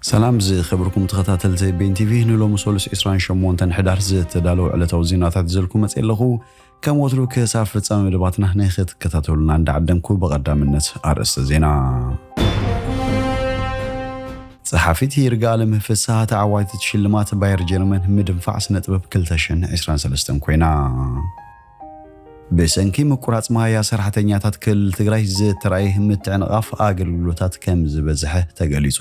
ሰላም ዝከብርኩም ተከታተልቲ ቤን ቲቪ ንሎሚ ሰሉስ ዒስራን ሸሞንተን ሕዳር ዝተዳለዉ ዕለታዊ ዜናታት ሒዘልኩም መጽየ ኣለኹ። ከም ወትሩ ክሳብ ፍጻሜ መደባትና ንክትከታተሉና እንዳዓደምኩ ብቐዳምነት ኣርእስተ ዜና ጸሓፊት ይርጋኣለም ፍስሃ ተዓዋቲት ሽልማት ባየር ጀርመን ምድንፋዕ ስነ ጥበብ 2023 ኮይና። ብሰንኪ ምቁራፅ ማይ ኣሰራሕተኛታት ክልል ትግራይ ዝተርኣየ ምትዕንቓፍ ኣገልግሎታት ከምዝበዝሐ ተገሊፁ።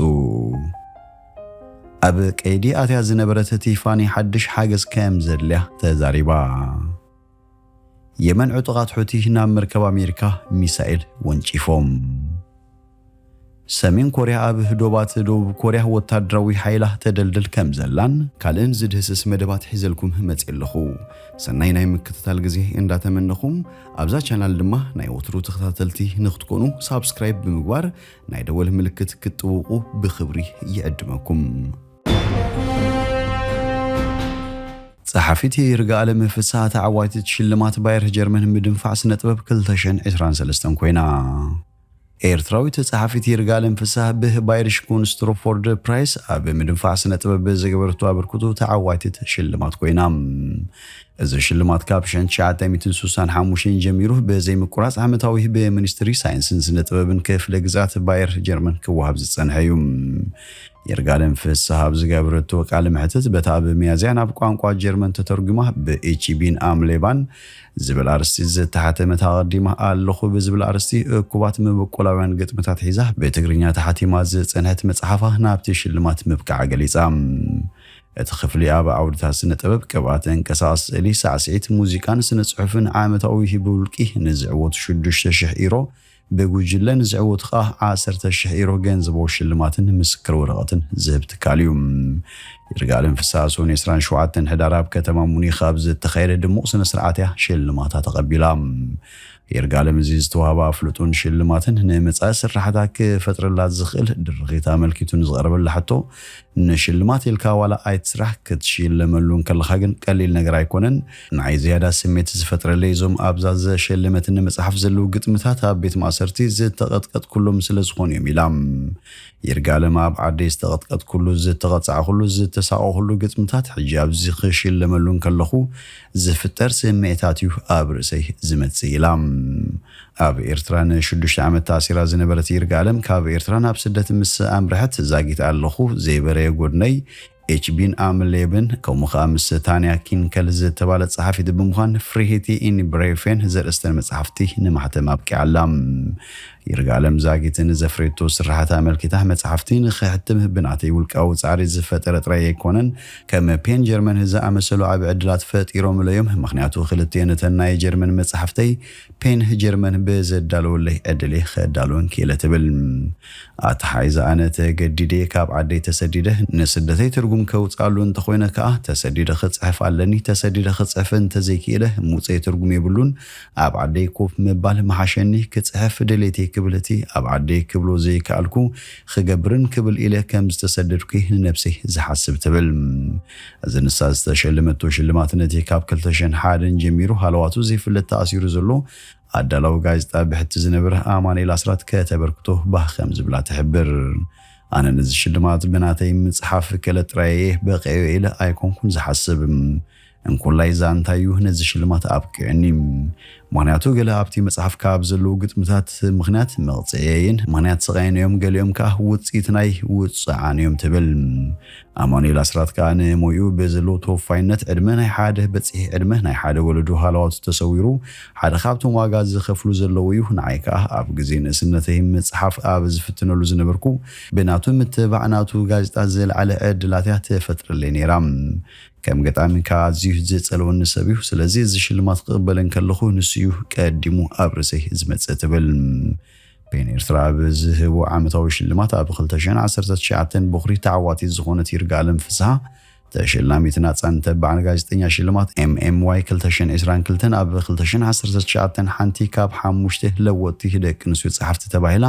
ኣብ ቀይዲ ኣትያ ዝነበረት ቲፋኒ ሓድሽ ሓገዝ ከምዘድልያ ተዛሪባ። የመን ዕጡቓት ሑቲ ናብ መርከብ ኣሜሪካ ሚሳኤል ወንጪፎም። ሰሜን ኮርያ ኣብ ዶባት ደቡብ ኮርያ ወታደራዊ ሓይላ ተደልድል ከምዘላን ካልእን ዝድህስስ መደባት ሒዘልኩም መጽየ ኣለኹ። ሰናይ ናይ ምክትታል ግዜ እንዳተመነኹ ኣብዛ ቻናል ድማ ናይ ወትሩ ተኸታተልቲ ንክትኮኑ ሳብስክራይብ ብምግባር ናይ ደወል ምልክት ክትጥውቁ ብኽብሪ ይዕድመኩም። ጸሓፊት ይርጋኣለም ፍስሃ ተዓዋቲት ሽልማት ባየር ጀርመን ምድንፋዕ ስነጥበብ ክልተ ሽሕን ዕስራን ሰለስተን ኮይና። ኤርትራዊት ጸሓፊት ይርጋለም ፍሳህ ብ ባይሪሽ ኩንስትሩፎርድ ፕራይስ ኣብ ምድንፋዕ ስነ-ጥበብ ብዝገበረቶ ኣበርክቶ ተዓዋቲት ሽልማት ኮይና። እዚ ሽልማት ካብ ሸን ትሽዓተ ሚእትን ስሳን ሓሙሽተን ጀሚሩ ብዘይምቁራጽ ዓመታዊ ብ ሚኒስትሪ ሳይንስን ስነ-ጥበብን ክፍለ ግዝኣት ባየር ጀርመን ክወሃብ ዝጸንሐ እዩ። ይርጋለም ፍሳህ ኣብ ዝገበረቶ ቃለ መሕትት በታ ብ ሚያዝያ ናብ ቋንቋ ጀርመን ተተርጉማ ብ ኢቺ ቢን ኣም ሌባን ዝብል ኣርእስቲ ዝተሓተመት ኣቐዲመ ኣለኹ ብዝብል ኣርእስቲ እኩባት መበቆላውያን ግጥምታት ሒዛ ብትግርኛ ተሓቲማ ዝጸንሐት መጽሓፋ ናብቲ ሽልማት ምብቅዓ ገሊጻ። እቲ ክፍሊ ኣብ ዓውድታት ስነ ጥበብ፣ ቅብኣ፣ ተንቀሳቓሲ ስእሊ፣ ሳዕስዒት፣ ሙዚቃን ስነ ጽሑፍን ዓመታዊ ብውልቂ ንዝዕወቱ ሽዱሽተ ሽሕ ኢሮ፣ ብጉጅለ ንዝዕወቱ ከኣ ዓሰርተ ሽሕ ኢሮ ገንዘቦ ሽልማትን ምስክር ወረቐትን ዝህብ ትካል እዩ። ይርጋኣለም ፍስሃ ሰኑይ ዕስራን ሸውዓተን ሕዳር ኣብ ከተማ ሙኒኽ ኣብ ዝተኻየደ ድሙቕ ስነ ስርዓት እያ ሽልማታ ተቐቢላ። ይርጋኣለም እዚ ዝተዋህባ ኣፍልጦን ሽልማትን ንመጻኢ ስርሓታ ክፈጥረላ ዝኽእል ድርኺት ኣመልኪቱ ንዝቐረበላ ሕቶ ንሽልማት ኢልካ ዋላ ኣይትስራሕ ክትሽለመሉ እንከለኻ ግን ቀሊል ነገር ኣይኮነን ንዓይ ዝያዳ ስሜት ዝፈጥረለይ እዞም ኣብዛ ዘሸለመትኒ መጽሓፍ ዘለዉ ግጥምታት ኣብ ቤት ማእሰርቲ ዝተቐጥቀጥኩሎም ስለ ዝኾኑ እዮም ኢላ። ይርጋለም ኣብ ዓደይ ዝተቐጥቀጥኩሉ፣ ዝተቐጻዕኹሉ፣ ዝተሳቐኹሉ ግጥምታት ሕጂ ኣብዚ ክሽለመሉ እንከለኹ ዝፍጠር ስምዒታት እዩ ኣብ ርእሰይ ዝመጽእ ኢላ። ኣብ ኤርትራ ንሽዱሽተ ዓመት ተኣሲራ ዝነበረት ይርጋለም ካብ ኤርትራ ናብ ስደት ምስ ኣምርሐት ዛጊት ኣለኹ ዘይበረየ ጎድነይ ኤች ቢን ኣም ሌብን ከምኡ ኸኣ ምስ ታንያ ኪንከል ዝተባለት ጸሓፊት ብምዃን ፍሪሂቲ ኢን ብሬፌን ዘርእስተን መጻሕፍቲ ንማሕተም ኣብቂዓ ኣላ። ይርጋኣለም ዛጊት ንዘፍረየቶ ስርሓት ኣመልኪታ መጻሕፍቲ ንኸሕትም ብናተይ ውልቃዊ ጻዕሪ ዝፈጠረ ጥራይ ኣይኮነን፣ ከም ፔን ጀርመን ዝኣመሰሉ ዓቢ ዕድላት ፈጢሮምለይ'ዮም፣ ምኽንያቱ ክልቲኤን እተን ናይ ጀርመን መጻሕፍተይ፣ ፔን ጀርመን ብዘዳለወለይ ዕድል'የ ከዳልወን ክኢለ ትብል። ኣተሓሒዛ ኣነ ተገዲደ'የ ካብ ዓደይ ተሰዲደ፣ ንስደተይ ትርጉም ከውጽኣሉ እንተኾይነ ከኣ ተሰዲደ ክጽሕፍ ኣለኒ፣ ተሰዲደ ክጽሕፍ እንተዘይክኢለ ሙጸይ ትርጉም የብሉን፣ ኣብ ዓደይ ኮፍ ምባል ምሓሸኒ፣ ክጽሕፍ ድሌተይ ክብል እቲ ኣብ ዓደይ ክብሎ ዘይከኣልኩ ክገብርን ክብል ኢለ ከምዝተሰደድኩ'የ ንነብሰይ ዝሓስብ ትብል። እዚ ንሳ ዝተሸለመቶ ሽልማት ነቲ ካብ ክልተ ሽሕን ሓደን ጀሚሩ ሃለዋቱ ዘይፍለጥ ተኣሲሩ ዘሎ ኣዳላዊ ጋዜጣ ብሕቲ ዝነብር ኣማኑኤል ኣስራት ከተበርክቶ ባህ ከም ዝብላ ትሕብር። ኣነ ነዚ ሽልማት ብናተይ ምጽሓፍ ክእለት ጥራይ እየ በቒዐዮ ኢለ ኣይኮንኩን ዝሓስብ። እንኮላይ ዛንታይ'ዩ ነዚ ሽልማት ኣብቂዑኒ። ምኽንያቱ ገለ ኣብቲ መጽሓፍካ ኣብ ዘለዉ ግጥምታት ምኽንያት መቕጽዒየይን ምኽንያት ስቓየይን እዮም፣ ገሊኦም ከኣ ውጽኢት ናይ ውጽዓን እዮም ትብል። ኣማኑኤል ኣስራት ከኣ ንሞይኡ ብዘለዎ ተወፋይነት ዕድመ ናይ ሓደ በጺሒ ዕድመ ናይ ሓደ ወለዶ ሃለዋቱ ተሰዊሩ ሓደ ካብቶም ዋጋ ዝኸፍሉ ዘለዉ እዩ፣ ንዓይ ከኣ ኣብ ግዜ ንእስነተይ ምጽሓፍ ኣብ ዝፍትነሉ ዝነበርኩ ብናቱ ምትብባዕ ናቱ ጋዜጣ ዝለዓለ ዕድላት እያ ትፈጥረለይ ነይራ። ከም ገጣሚ ከኣ ኣዝዩ ዝጸልወኒ ሰብ'ዩ። ስለዚ እዚ ሽልማት ክቕበል እንከለኹ ንሱ'ዩ ቀዲሙ ኣብ ርእሰይ ዝመጽእ ትብል። ፔን ኤርትራ ኣብ ዝህቦ ዓመታዊ ሽልማት ኣብ ክልተ ሽሕን ዓሰርተ ትሽዓተን ቦኽሪ ተዓዋቲት ዝኾነት ይርጋኣለም ፍስሃ ተሸላሚት ናጻን ተባዕን ጋዜጠኛ ሽልማት MMY ክልተ ሽሕን ዕስራን ክልተን ኣብ ክልተ ሽሕን ዓሰርተ ትሽዓተን ሓንቲ ካብ ሓሙሽተ ለወጥቲ ደቂ ኣንስትዮ ጸሓፍቲ ተባሂላ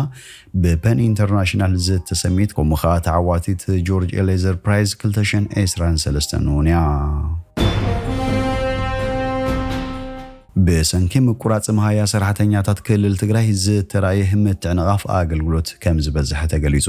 ብፐን ኢንተርናሽናል ዝተሰምየት ከምኡ ከኣ ተዓዋቲት ጆርጅ ኤሌዘር ፕራይዝ ክልተ ሽሕን ዕስራን ሰለስተን እውን እያ። ብሰንኪ ምቁራፅ መሃያ ሰራሕተኛታት ክልል ትግራይ ዝተራእየ ምትዕንቓፍ ኣገልግሎት ከምዝበዝሐ ተገሊፁ።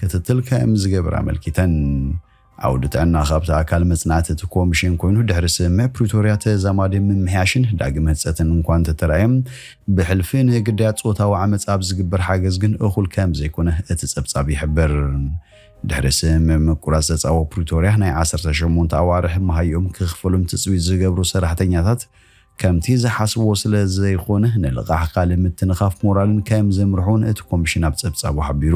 ክትትል ከም ዝገብር ኣመልኪተን። ዓውዲ ጥዕና ካብቲ ኣካል መጽናዕቲ እቲ ኮሚሽን ኮይኑ ድሕሪ ስምምዕ ፕሪቶርያ ተዛማዲ ምምሕያሽን ዳግም ህንጸትን እንኳ እንተተራእየ ብሕልፊ ንግዳያት ጾታዊ ዓመጽ ኣብ ዝግበር ሓገዝ ግን እኹል ከም ዘይኮነ እቲ ጸብጻብ ይሕብር። ድሕሪ ስምምዕ ምቁራጽ ጸጻዎ ፕሪቶርያ ናይ ዓሰርተ ሸሞንተ ኣዋርሕ መሃይኦም ክኽፈሎም ትጽቢት ዝገብሩ ሰራሕተኛታት ከምቲ ዝሓስብዎ ስለ ዘይኾነ ንልቓሕ ካልእ ምትንኻፍ ሞራልን ከም ዘምርሑን እቲ ኮምሽን ኣብ ፀብፃቡ ሓቢሩ።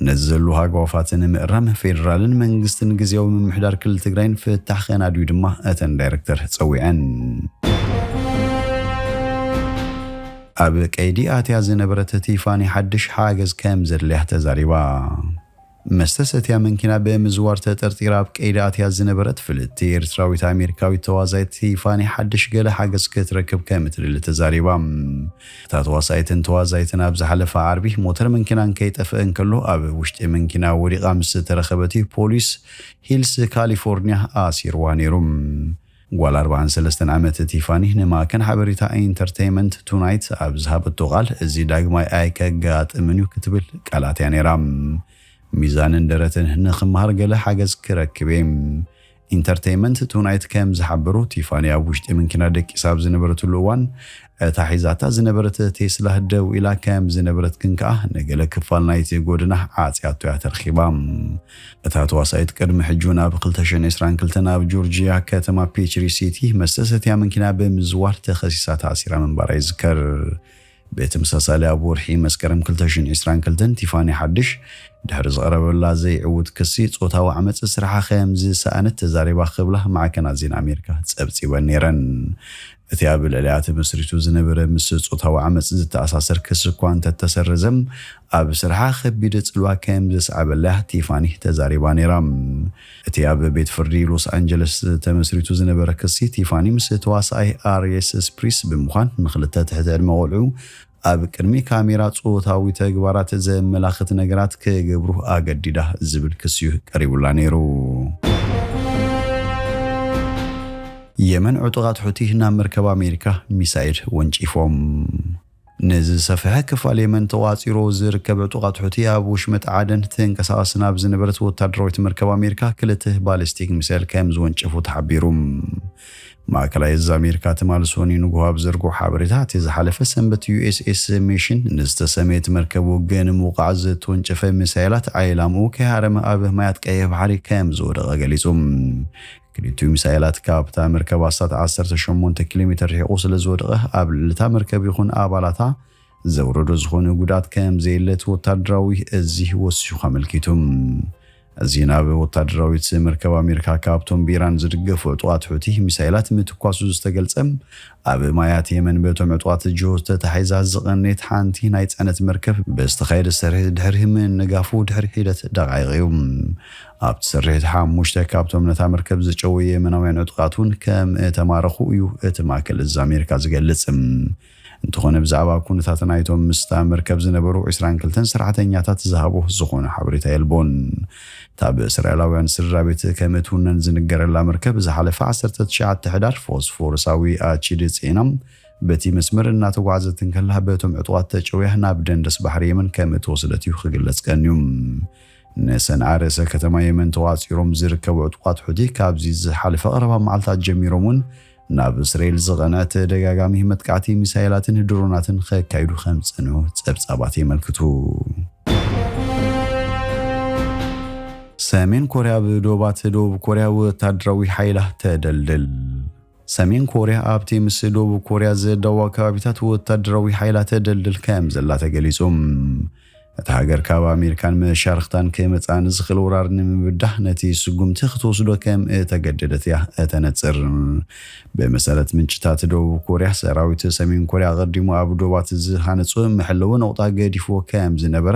ነዚ ዘሉ ሃጓፋት ንምእራም ፌዴራልን መንግስትን ግዝያዊ ምምሕዳር ክልል ትግራይን ፍታሕ ከናድዩ ድማ እተን ዳይረክተር ፀዊዐን። ኣብ ቀይዲ ኣትያ ዝነበረት ቲፋኒ ሓድሽ ሓገዝ ከም ዘድልያ ተዛሪባ። መስተ ሰትያ መንኪና ብምዝዋር ተጠርጢራ ኣብ ቀይዲ ኣትያ ዝነበረት ፍልጥቲ ኤርትራዊት ኣሜሪካዊት ተዋሳኢት ቲፋኒ ሓድሽ ገለ ሓገዝ ክትረክብ ከምትደሊ ተዛሪባ። እታ ተዋሳኢትን ተዋዛይትን ኣብ ዝሓለፈ ዓርቢ ሞተር መንኪናን ከይጠፈኣ እንከሎ ኣብ ውሽጢ መንኪና ወዲቓ ምስ ዝተረኸበት'ዩ ፖሊስ ሂልስ ካሊፎርንያ ኣሲርዋ ነይሩ። ጓል ኣርብዓን ሰለስተን ዓመት ቲፋኒ ንማዕከን ሓበሬታ ኢንተርተይመንት ቱናይት ኣብ ዝሃበቶ ቃል፣ እዚ ዳግማይ ኣይከጋጥምን እዩ ክትብል ቃላት እያ ነይራ። ሚዛንን ደረትን ንኽመሃር ገለ ሓገዝ ክረክብ እየ። ኢንተርተይመንት ቱናይት ከም ዝሓበሮ፣ ቲፋኒ ኣብ ውሽጢ መንኪና ደቂሳ ኣብ ዝነበረትሉ እዋን እታ ሒዛታ ዝነበረት ቴስላ ደው ኢላ ከም ዝነበረት ግን ከኣ ንገለ ክፋል ናይቲ ጎደና ዓጽያቶ እያ ተርኺባ። እታ ተዋሳኢት ቅድሚ ሕጂ'ውን ኣብ ክልተ ሽሕን ዕስራን ክልተን ኣብ ጆርጂያ ከተማ ፔችሪ ሲቲ መስተ ሰትያ መንኪና ብምዝዋር ተኸሲሳ ተኣሲራ ምንባራ ይዝከር። ብተመሳሳሊ ኣብ ወርሒ መስከረም ክልተ ሽሕን ዕስራን ክልተን ቲፋኒ ሓድሽ ድሕሪ ዝቐረበላ ዘይዕዉት ክሲ ጾታዊ ዓመጽ ስርሓ ከም ዝሰኣነት ተዛሪባ ክብላ ማዕከናት ዜና ኣሜሪካ ጸብጺበን ነይረን። እቲ ኣብ ልዕሊኣ ተመስሪቱ ዝነበረ ምስ ጾታዊ ዓመጽ ዝተኣሳሰር ክሲ እኳ እንተተሰረዘ፣ ኣብ ስርሓ ከቢድ ጽልዋ ከም ዘስዓበላ ቲፋኒ ተዛሪባ ነይራ። እቲ ኣብ ቤት ፍርዲ ሎስ ኣንጀለስ ተመስሪቱ ዝነበረ ክሲ፣ ቲፋኒ ምስ ተዋሳኣይ ኣርየስ ስፕሪስ ብምዃን ንኽልተ ትሕቲ ዕድመ ቈልዑ፣ ኣብ ቅድሚ ካሜራ ጾታዊ ተግባራት ዘመላኽት ነገራት ክገብሩ ኣገዲዳ ዝብል ክሲ'ዩ ቀሪቡላ ነይሩ። የመን ዕጡቓት ሑቲ ናብ መርከብ ኣሜሪካ ሚሳይል ወንጪፎም። ነዚ ዝሰፍሐ ክፋል የመን ተቖጻጺሩ ዝርከብ ዕጡቓት ሑቲ ኣብ ውሽመጥ ዓደን ትንቀሳቐስ ናብ ዝነበረት ወታደራዊት መርከብ ኣሜሪካ ክልተ ባሊስቲክ ሚሳይል ከምዝወንጨፉ ተሓቢሩ። ማእከላይ እዝ ኣሜሪካ ትማል ሶኑይ ንጉሆ ኣብ ዘርግሖ ሓበሬታ፣ እቲ ዝሓለፈ ሰንበት USS Mission ንዝተሰመየት መርከብ ውግእ ንምውቃዕ ዝተወንጨፈ ሚሳይላት ዒላምኡ ከይሃረመ ኣብ ማያት ቀይሕ ባሕሪ ከምዝወደቐ ገሊጹ። ክልቲኡ ሚሳይላት ካብታ መርከብ ኣስታት ዓሰርተ ሸሞንተ ኪሎሜተር ርሒቑ ስለዝወደቐ ኣብ ልዕሊ እታ መርከብ ይኹን ኣባላታ ዘውረዶ ዝኾነ ጉድኣት ከም ዘየለ እቲ ወታደራዊ እዚ ወሲኹ ኣመልኪቱ። እዚ ናብ ወታደራዊት መርከብ ኣሜሪካ ካብቶም ብኢራን ዝድገፉ ዕጡቓት ሑቲ ሚሳይላት ምትኳሱ ዝተገልጸ ኣብ ማያት የመን በቶም ዕጡቓት ጅሆት ተታሒዛ ዝቐነየት ሓንቲ ናይ ጽዕነት መርከብ ብዝተኻየደ ስርሒት ድሕሪ ምንጋፉ ድሕሪ ሒደት ደቓይቕ እዩ። ኣብቲ ስርሒት ሓሙሽተ ካብቶም ነታ መርከብ ዝጨወዩ የመናውያን ዕጡቓት እውን ከም እተማረኹ እዩ እቲ ማእከል እዚ ኣሜሪካ ዝገልጽ። እንተኾነ ብዛዕባ ኩነታት ናይቶም ምስታ መርከብ ዝነበሩ ዕስራን ክልተን ሰራሕተኛታት ዝሃቦ ዝኾነ ሓበሬታ የልቦን። እታ ብእስራኤላውያን ስድራቤት ከም እትውነን ዝንገረላ መርከብ ዝሓለፈ ዓሰርተ ትሽዓተ ሕዳር ፎስፎረሳዊ ኣቺድ ጽዒና በቲ መስመር እናተጓዕዘት እንከላ በቶም ዕጡቓት ተጨውያ ናብ ደንደስ ባሕሪ የመን ከም እተወሰደት እዩ ክግለጽ ቀንዩ። ንሰንዓ ርእሰ ከተማ የመን ተቛጺሮም ዝርከቡ ዕጡቓት ሑቲ ካብዚ ዝሓለፈ ቀረባ መዓልታት ጀሚሮም እውን ናብ እስራኤል ዝቐንዐ ተደጋጋሚ መጥቃዕቲ ሚሳኤላትን ድሮናትን ከካይዱ ከም ዝጸንሑ ጸብጻባት የመልክቱ። ሰሜን ኮርያ ኣብ ዶባት ደቡብ ኮርያ ወታደራዊ ሓይላ ተደልድል። ሰሜን ኮርያ ኣብቲ ምስ ደቡብ ኮርያ ዘዳዋ ከባቢታት ወታደራዊ ሓይላ ተደልድል ከም ዘላ ተገሊጹ። እታ ሃገር ካብ ኣሜሪካን መሻርኽታን ከይመጽኣ ንዝኽእል ወራር ንምብዳህ ነቲ ስጉምቲ ክትወስዶ ከም እተገደደት እያ እተነጽር። ብመሰረት ምንጭታት ደቡብ ኮርያ፣ ሰራዊት ሰሜን ኮርያ ኣቐዲሙ ኣብ ዶባት ዝሃነጾ መሐለዊ ነቑጣ ገዲፍዎ ከም ዝነበረ፣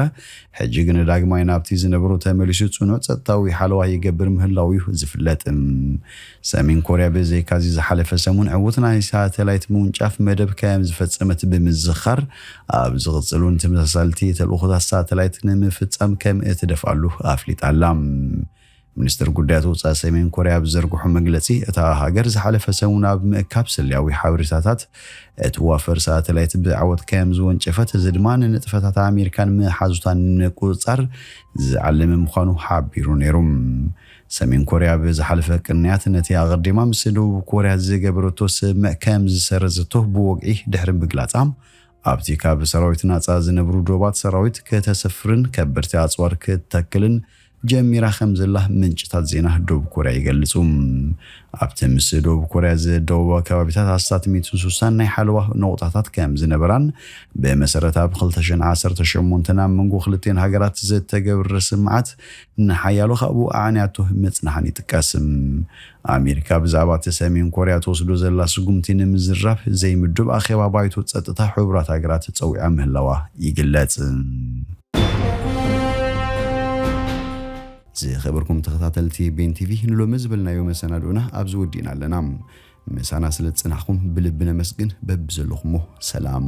ሕጂ ግና ዳግማይ ናብቲ ዝነበሮ ተመሊሱ ጽኑዕ ጸጥታዊ ሓለዋ ይገብር ምህላዉ'ዩ ዝፍለጥ። ሰሜን ኮርያ ብዘይካዚ ዝሓለፈ ሰሙን ዕዉት ናይ ሳተላይት ምውንጫፍ መደብ ከም ዝፈጸመት ብምዝኻር፣ ኣብ ዝቕጽል እውን ተመሳሳልቲ ተልእኾታት ሳተላይት ንምፍጻም ከም እትደፍኣሉ ኣፍሊጣ ኣላ። ሚኒስተር ጉዳያት ወጻኢ ሰሜን ኮርያ ኣብ ዝዘርግሖ መግለጺ፣ እታ ሃገር ዝሓለፈ ሰሙን ኣብ ምእካብ ስለያዊ ሓበሬታታት እትዋፈር ሳተላይት ብዓወት ከም ዝወንጨፈት፣ እዚ ድማ ንንጥፈታት ኣሜሪካን መሓዙታን ንምቁጽጻር ዝዓለመ ምዃኑ ሓቢሩ ነይሩ። ሰሜን ኮርያ ኣብ ዝሓለፈ ቅንያት ነቲ ኣቐዲማ ምስ ደቡብ ኮርያ ዝገበረቶ ስምምዕ ከም ዝሰረዘቶ ብወግዒ ድሕሪ ምግላጻ፣ ኣብቲ ካብ ሰራዊት ናጻ ዝነብሩ ዶባት ሰራዊት ከተሰፍርን ከበድቲ ኣጽዋር ክትተክልን ጀሚራ ከም ዘላ ምንጭታት ዜና ደቡብ ኮርያ ይገልጹ። ኣብቲ ምስ ደቡብ ኮርያ ዝደወባ ከባቢታት ኣስታት ሚእትን ሱሳን ናይ ሓለዋ ነቑጣታት ከም ዝነበራን ብመሰረት ኣብ ክልተ ሽሕን ዓሰርተ ሸሞንተን ኣብ መንጎ ክልቲኤን ሃገራት ዝተገብረ ስምምዓት ንሓያሎ ካብኡ ኣዕንያቶ ምጽንሓን ይጥቀስ። ኣሜሪካ ብዛዕባ እቲ ሰሜን ኮርያ ትወስዶ ዘላ ስጉምቲ ንምዝራብ ዘይምዱብ ኣኼባ ባይቶ ጸጥታ ሕቡራት ሃገራት ጸዊዓ ምህላዋ ይግለጽ። ዝኸበርኩም ተኸታተልቲ ቤን ቲቪ ንሎሚ ዝበልናዮ መሰናድኦና ኣብዚ ወዲእና ኣለና። ምሳና ስለ ዝጸናሕኩም ብልቢ ነመስግን። በብዘለኹሞ ሰላም።